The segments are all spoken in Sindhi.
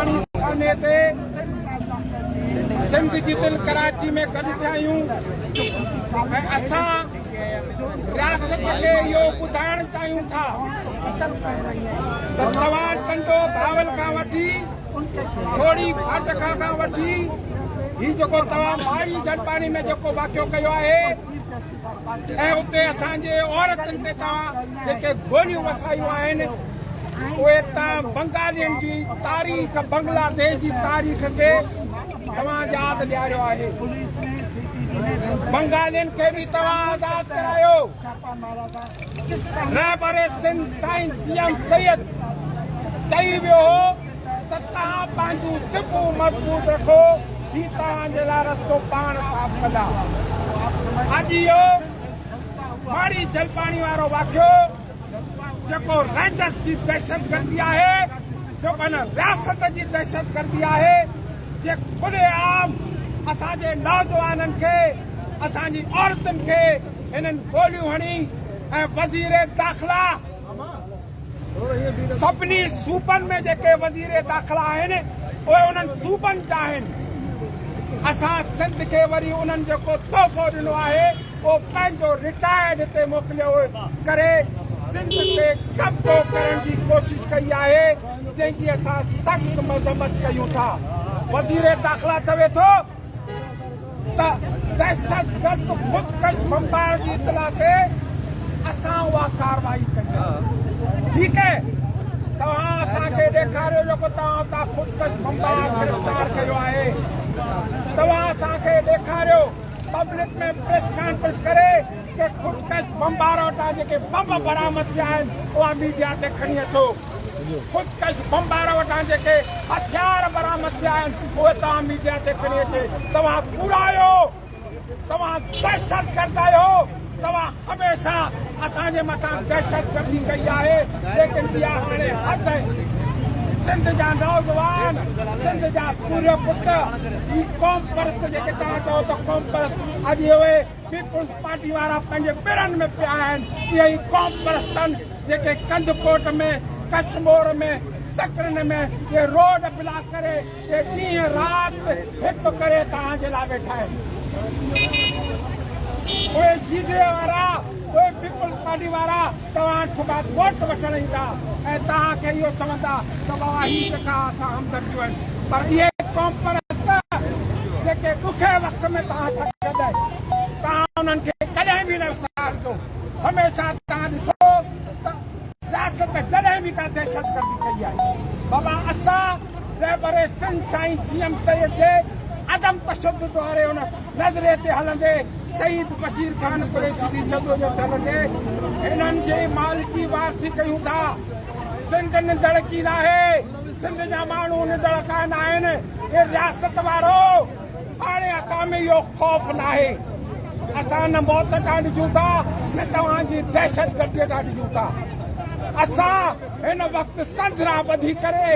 پاڻي سانحي تي سنڌ جي دل ڪراچي ۾ گڏ ٿيا آهيون ۽ اسان رياست کي اهو ٻڌائڻ چاهيون ٿا ته توهان ٽنڊو بهاول کان وٺي ٿوري فاٽڪا کان وٺي هي جيڪو توهان ماڙي جنپاڻي ۾ جيڪو واقعو ڪيو آهي ۽ اتي اسان جي عورتن تي توهان جيڪي گوليون وسايون آهن اهي توهان بنگالين جي تاريخ بنگلاديش جي تاريخ کي توهان ياد ڏياريو آهي بنگالين کي به توهان آزاد ڪرايو رهبر سنڌ سائين جي ايم سيد چئي ويو هو ته توهان پنهنجون سپون مضبوط رکو، هي توهان جي لاء رستو پاڻ صاف ڪندا. اڄ اهو ماڙي جلپاڻي وارو واقعو جيڪو رينجرز جي دهشتگردي آهي، جيڪو هن رياست جي دهشتگردي آهي، جي کلي عام اسان جي نوجوانن کي، اسان جي عورتن کي هنن گوليون هڻي ۽ وزير داخلا، سڀني صوبن ۾ جيڪي وزير داخلا آهن اهي انهن صوبن جا آهن اسان سنڌ کي وري انهن جيڪو تحفو ڏنو آهي اهو پنهنجو رٽائرڊ هتي موڪليو ڪري سنڌ تي قبضو ڪرڻ جي ڪوشش ڪئي آهي جنهن جي اسان سخت مذمت ڪيون ٿا وزير داخلا چوي ٿو ته دهشتگرد خودڪش بمبار جي اطلاع تي اسان اها ڪارروائي ڪئي آهي ٺيڪ آهي توهان اسان کي ڏيکاريو جيڪو توهان اتان خودڪش بمبار گرفتار ڪيو آهي توهان اسان کي ڏيکاريو پبلڪ ۾ پريس ڪانفرنس ڪري ڪي خودڪش بمبار وٽان جيڪي بمب برآمد ٿيا آهن اها ميڊيا تي کڻي اچو خودڪش بمبار وٽان جيڪي هٿيار برآمد ٿيا آهن اهي توهان ميڊيا تي کڻي اچي توهان ڪوڙا آهيو توهان دهشت گرد آهيو توهان هميشه اسان جي مٿان دهشت گردي ڪئي آهي ليڪن اها هاڻي حد آهي سنڌ جا نوجوان سنڌ جا سوريا پٽ هي قوم پرست جيڪي توهان چئو ته قوم پرست اڄ اهي پيپلز پارٽي وارا پنهنجي پرن ۾ پيا آهن اهي ئي قوم پرستن جيڪي ڪنڌڪوٽ ۾ ڪشمور ۾ سڪرنڊ ۾ اهي روڊ بلاڪ ڪري اهي ڏينهن رات هڪ ڪري توهان جي لاء ويٺا آهن اهي جي ڊي اي وارا اهي پيپلز پارٽي وارا توهان صبح ڪورٽ وٺڻ ايندا ۽ توهان کي اهو چوندا ته بابا هي جيڪا اسان همدرديون آهن پر اهي قومپرست جيڪي ڏکئي وقت ۾ توهان سان گڏ آهن توهان انهن کي ڪڏهن به نه وسارجو هميشه توهان ڏسو ته رياست جڏهن به ڪا دهشتگردي ڪئي آهي بابا اسان رهبر سنڌ سائين جي ايم سيد جي عدم تشدد واري ان نظرئي تي هلندي شهيد بشير خان قريشي جي جدوجهد هلندي هنن جي مال جي وارثي ڪيون ٿا. سنڌ نندڙ ڪي ناهي، سنڌ جا ماڻهو نندڙ ڪا ناهن، اي رياست وارو هاڻي اسان ۾ اهو خوف ناهي. اسان نه موت ڏانهن ڏسون ٿا نه توهان جي دهشتگردي ڏانهن ڏسون ٿا. اسان هن وقت سنڌ ران ٻڌي ڪري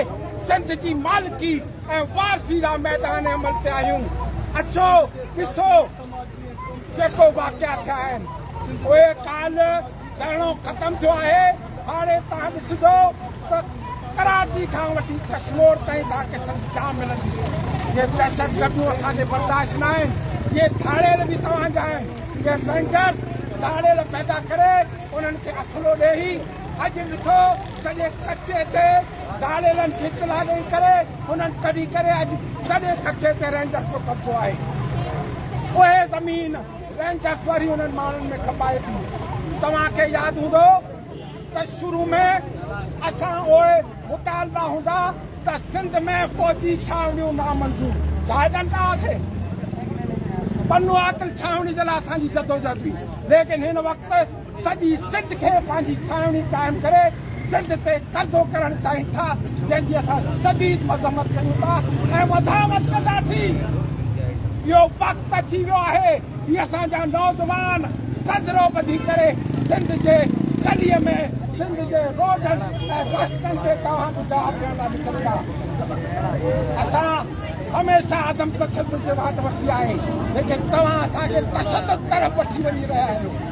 سنڌ جي مالڪي ۽ وار سيرا ميدان عمل تي آهيون اچو ڏسو جيڪو واقعا ٿيا آهن اهي ڪالهه ڌرڻو ختم ٿيو آهي هاڻي تان ڏسجو ته ڪراچي کان وٺي ڪشمور تائين تان کي سڀ جا ملندي جي دهشت گردون اسان جي برداشت نه آهن جي ڌاڙيل به توهان جا آهن جي رينجرز ڌاڙيل پيدا ڪري انهن کي اصلو ڏيئي اڄ ڏسو سڄي ڪچي تي ڌاڙيلن ڦڪ لاڳڻ ڪري انهن ڪڍي ڪري اڄ سڄي ڪچي تي رينجرز جو قبضو آهي. اهي زمين رينجرز وري انهن ماڻهن ۾ کپائي ٿي. توهان کي ياد هوندو ته شروع ۾ اسان اهي مطالبا هوندا ته سنڌ ۾ فوجي ڇانوڻيون نامنظور زاهدن لاء آهي. بنو عاقل ڇانوڻي جي لاء اسان جي جدوجهد هئي ليڪن هن وقت سڄي سنڌ کي پنهنجي ڇانوڻي قائم ڪري سنڌ تي قبضو ڪرڻ چاهين ٿا جنهن جي اسان شديد مذمت ڪريون ٿا ۽ وڌامت ڪنداسين اهو وقت اچي ويو آهي هي اسان جا نوجوان سجرو ٻڌي ڪري سنڌ جي گلي ۾ سنڌ جي روڊن ۽ رستن تي توهان جو جواب ڏيڻ لاء نڪرندا اسان هميشه عدم تشدد جي واٽ ورتي آهي ليڪن توهان اسان کي تشدد طرف وٺي وڃي رهيا آهيو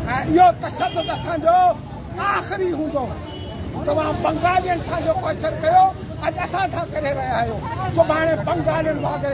اهو تشدد اسان جو آخري هوندو. توهان بنگالين سان جو ڪوئشن ڪيو، اڄ اسان سان ڪري رهيا آهيو، سڀاڻي بنگالين وانگر